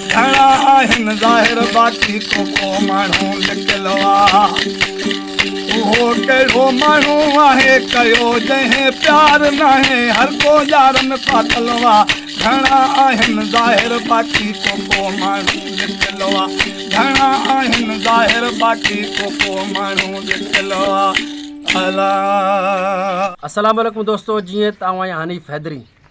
گهڻا آهن ظاهر باقي ڪو ڪو ماڻهو لڪل آ اهو ڪهڙو ماڻهو آهي ڪيو جنهن پيار ناهي هر ڪو يار ۾ ڦاٿل آ گهڻا آهن ظاهر باقي ڪو ڪو ماڻهو لڪل آ گهڻا آهن ظاهر باقي ڪو ڪو ماڻهو لڪل آ الا السلام عليڪم دوستو جيئن ته آئون آهيان حنيف حيدري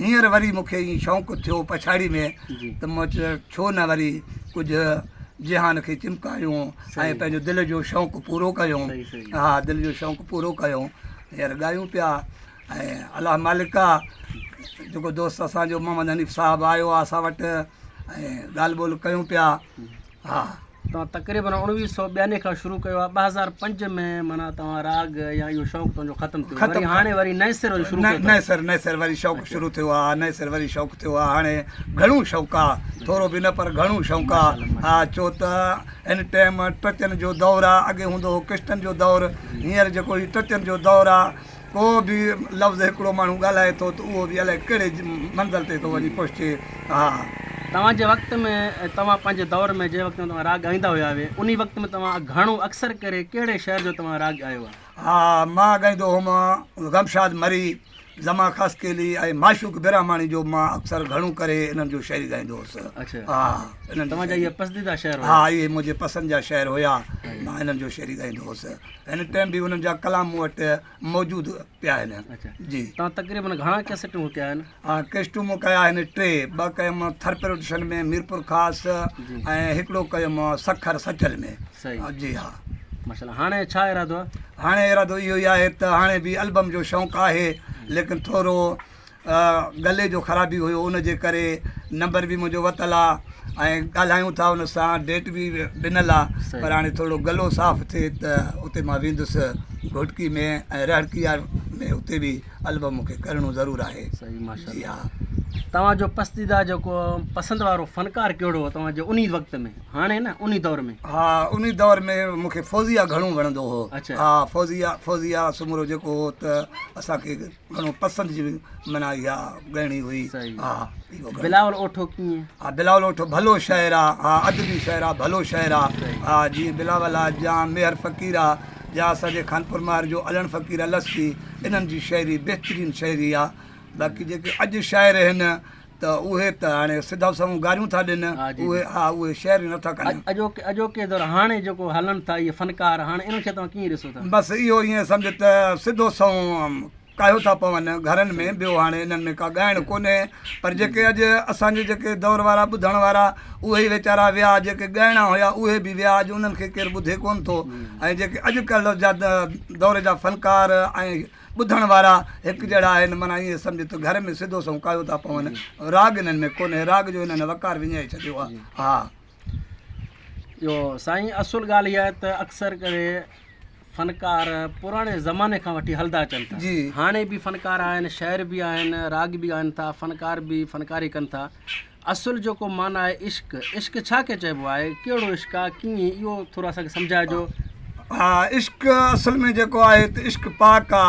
هينئر وري مون کي ائين شوق ٿيو پڇاڙي ۾ ته مون چيو ڇو نه وري ڪجهه جهان کي چمڪايون ۽ پنهنجو دل جو شوق پورو ڪيون ها دل جو شوق پورو ڪيون هينئر ڳايون پيا ۽ الله مالڪ آهي جيڪو دوست اسانجو محمد حنيف صاحب آيو آهي اسان وٽ ۽ ڳالهه ٻولهه ڪيون پيا ها توهان تقريبن اوڻويهه سئو ٻيانوي کان شروع ڪيو آهي ٻه هزار پنج ۾ مانا توهان راڳ يا اهو شوق تنهنجو ختم ٿيو ختم وري هاڻي وري نئين سر شروع ڪيو نئين سر نئين سر وري شوق اچھا. شروع ٿيو آهي نئين سر وري شوق ٿيو آهي هاڻي گھڻو شوق آهي اچھا. ٿورو به نه پر گھڻو شوق آهي ها ڇو ته هن ٽائيم ٽچن جو دور آهي اڳي هوندو هو ڪشتن جو دور جي. هينئر جيڪو هي ٽچن جو دور آهي ڪو به لفظ هڪڙو ماڻهو ڳالهائي ٿو ته اهو به الائي ڪهڙي منزل تي ٿو وڃي پهچي ها. توهان جي وقت ۾ توهان پنهنجي دور ۾ جنهن وقت ۾ توهان راڳ ڳائيندا هيا هوي انهي وقت ۾ توهان گهڻو اڪثر ڪري ڪهڙي شعر جو توهان راڳ ڳايو آهي. ها مان ڳائيندو هوم غمشاد مري، زمان خاصخيلي ۽ معشوق براهماڻي جو مان اڪثر گهڻو ڪري انهن جو شعري ڳائيندو هوس اڇا ها انهن جي توهان جا شعري اهي پسنديده شعر هيا. ها اهي منهنجي پسند جا شعر هيا مان انهن جو شعري ڳائيندو هوس. هن ٽائيم به انهن جا ڪلام مون وٽ موجود پيا آهن جي تان تقريبن گهڻا ڪيسٽون وڪيا آهن ها ڪيسٽون مون ڪيا آهن ٽي ٻه ڪيم ٿر پروڊڪشن ۾ ميرپور خاص ۽ هڪڙو ڪيم سکر سچل ۾ جي ها ماشاءالله هاڻي ڇا ارادو آهي هاڻي ارادو اهو ئي آهي ته هاڻي به البم جو شوق آهي ليڪن ٿورو گلي جو خرابي هيو ان جي ڪري نمبر به منهنجو وتل آ ۽ ڳالهايون ٿا ان سان ڊيٽ به ڏنل آ پر هاڻي ٿورڙو گلو صاف ٿئي ته اتي مان ويندس گهوٽڪي ۾ ۽ رهڙڪي يا ۾ اتي به البم مونکي ڪرڻو ضرور آهي جي ها توهان جو پسنديده جيڪو پسند وارو فنڪار ڪهڙو هو توهان جو انهي وقت ۾ هاڻي نه انهي دور ۾ ها انهي دور ۾ مونکي فوزيا گهڻو وڻندو هو اڇا ها فوزيا فوزيا سومرو جيڪو هو ته اسان کي گهڻو پسند جي منا اها ڳائڻي هئي ها بلاول اوٺو ڪيئن ها بلاول اوٺو ڀلو شاعر آ ها ادبي شاعر آ ڀلو شاعر آ ها جي بلاول آ جا ميهر فقير آ جا اسان جي خانپور مار جو علڻ فقير السي انهن جي شاعري بهترين شاعري آ باقي جيڪي اڄ شاعر هن ته اهي ته هاڻي سڌا سنئون گاريون ٿا ڏين، اهي ها اهي شعر نه ٿا ڪن. اڄوڪي اڄوڪي دور هاڻي جيڪو هلن ٿا اهي فنڪار هاڻي انهن کي توهان ڪيئن ڏسو ٿا؟ بس اهو ائين سمجهه ته سڌو سنئون ڪاهيو ٿا پون گهرن ۾ ٻيو هاڻي انهن ۾ ڪا ڳائڻ ڪونهي پر جيڪي اڄ اسان جي جيڪي دور وارا ٻڌڻ وارا اهي ويچارا ويا جيڪي ڳائڻا هيا اهي به ويا اڄ انهن کي ڪير ٻڌي ڪون ٿو ۽ جيڪي اڄ ڪلهه جا دور جا فنڪار ۽ ٻڌڻ وارا هڪ جهڙا آهن، معنيٰ ائين سمجهه ته گهر ۾ سڌو سنئون ڪايو ٿا پون. راڳ انهن ۾ ڪونهي، راڳ جو انهن وقار وڃائي ڇڏيو آهي. ها. جو سائين اصل ڳالهه اها آهي ته اڪثر ڪري فنڪار پراڻي زماني کان وٺي هلدا اچن ٿا جي. هاڻي به فنڪار آهن شاعر به آهن راڳ به ڳائن ٿا فنڪار به فنڪاري ڪن ٿا اصل جو ڪو معنيٰ آهي عشق، عشق ڇا کي چئبو آهي، ڪهڙو عشق آهي، ڪيئن اهو ٿورو اسان کي سمجهائجو. ها عشق اصل ۾ جيڪو آهي ته عشق پاڪ آ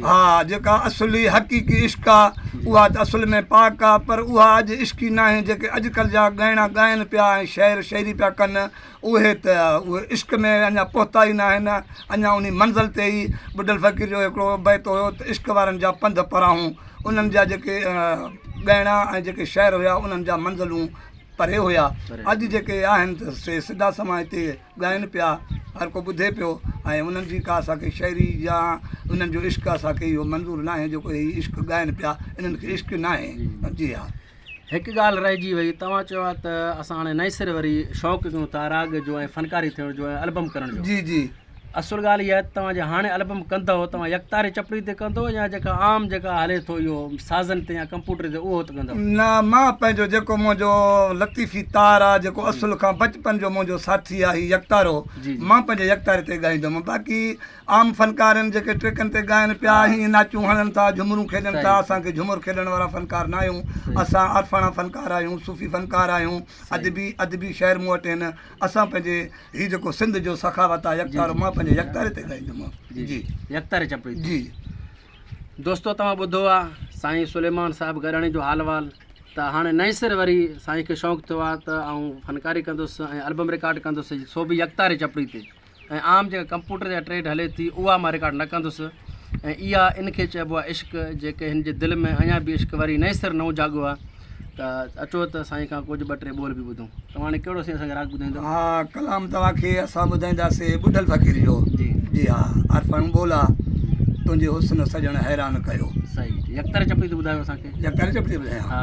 ها جيڪا اصلي حقيقي عشق آ اها ته اصل ۾ پاڪ آ پر اها اڄ عشقي ناهي جيڪي اڄڪلھ جا ڳائڻا ڳائن پيا ۽ شعر شعري پيا ڪن اهي ته اهي عشق ۾ اڃا پهتا ئي ناهن، اڃا انهي منزل تي ئي ٻڍل فقير جو هڪڙو بيت هيو ته عشق وارن جا پنڌ پراهون، انهن جا جيڪي ڳائڻا ۽ جيڪي شعر هيا انهن جا منزلون پري هيا، اڄ جيڪي آهن ته سي سڌا سنئون هتي ڳائن پيا، هر ڪو ٻڌي پيو ۽ انهن جي ڪا اسان کي شاعري يا انهن جو عشق اسان کي اهو منظور ناهي جيڪو هي عشق ڳائن پيا، انهن کي عشق ناهي. جي ها. هڪ ڳالهه رهجي وئي توهان چيو آهي ته اسان هاڻي نئين سر وري شوق ڪيون ٿا راڳ جو ۽ فنڪاري ٿيڻ جو ۽ البم ڪرڻ جو جي جي اصل ڳالهه اها آهي ته توهان جي هاڻي البم ڪندو توهان يڪتاري چپڙي تي ڪندو يا جيڪا عام جيڪا هلي ٿو اهو سازن تي يا ڪمپوٽر تي اهو ته ڪندو نه مان پنهنجو جيڪو منهنجو لطيفي تار آ جيڪو اصل کان بچپن جو منهنجو ساٿي آ هي يڪتارو جي جي مان پنهنجي يڪتاري تي ڳائيندم باقي عام فنڪارن جيڪي ٽريڪن تي ڳائن پيا ۽ ناچون هڻن ٿا، جهومرون کيڏن ٿا، اسان کي جهومر کيڏڻ وارا فنڪار ناهيون، اسان عارفاڻا فنڪار آهيون، صوفي فنڪار آهيون، ادبي ادبي شعر مون وٽ آهن، اسان پنهنجي هي جيڪو سنڌ جو سخاوت آهي يڪتارو مان پنهنجي يڪتاري تي ڳائيندومان جي يڪتاري چپڙي تي جي. دوستو توهان ٻڌو آ سائين سليمان صاحب گڏاڻي جو حال وال ته هاڻي نئين سر وري سائين کي شوق ٿيو آ ته آئون فنڪاري ڪندس ۽ البم رڪارڊ ڪندس سو به يڪتاري چپڙي تي ۽ عام جيڪا ڪمپوٽر يا ٽريڊ هلي ٿي اها مان رڪارڊ نه ڪندس ۽ اها ان کي چئبو آهي عشق جيڪي هن جي دل ۾ اڃا به عشق وري نئين سر نئون جاڳو آهي ته اچو ته سائين کان ڪجهه ٻه ٽي ٻول به ٻڌون توهان هاڻي ڪهڙو سائين اسان کي راڳ ٻڌائيندو ها ڪلام توهان کي اسان ٻڌائينداسي ٻڍل فقير جو جي جي ها عرفڻ ٻولا جي تنهنجي حسن سڄڻ حيران ڪيو صحيح يڪتر چپڙي ته ٻڌايو اسان کي يڪتر چپڙي ٻڌايان ها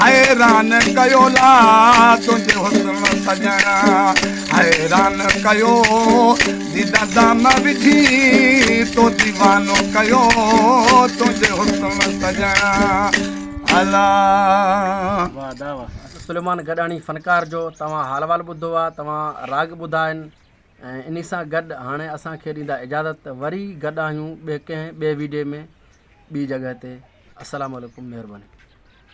حيران ڪيو لا تنهنجي حسن سڄڻ حيران ڪيو ديده دام وجهي تو ديوانو ڪيو تنهنجي حسن سڄڻ الله سليمان گڏاڻي فنڪار جو توهان حال وال ٻڌو آ توهان راڳ ٻڌا آهن ۽ انهي سان گڏ هاڻي اسان کي ڏيندا اجازت ته وري گڏ آهيون ٻي ڪنهن ٻي ويڊيو ۾ ٻي جڳهه تي السلام عليڪم مهرباني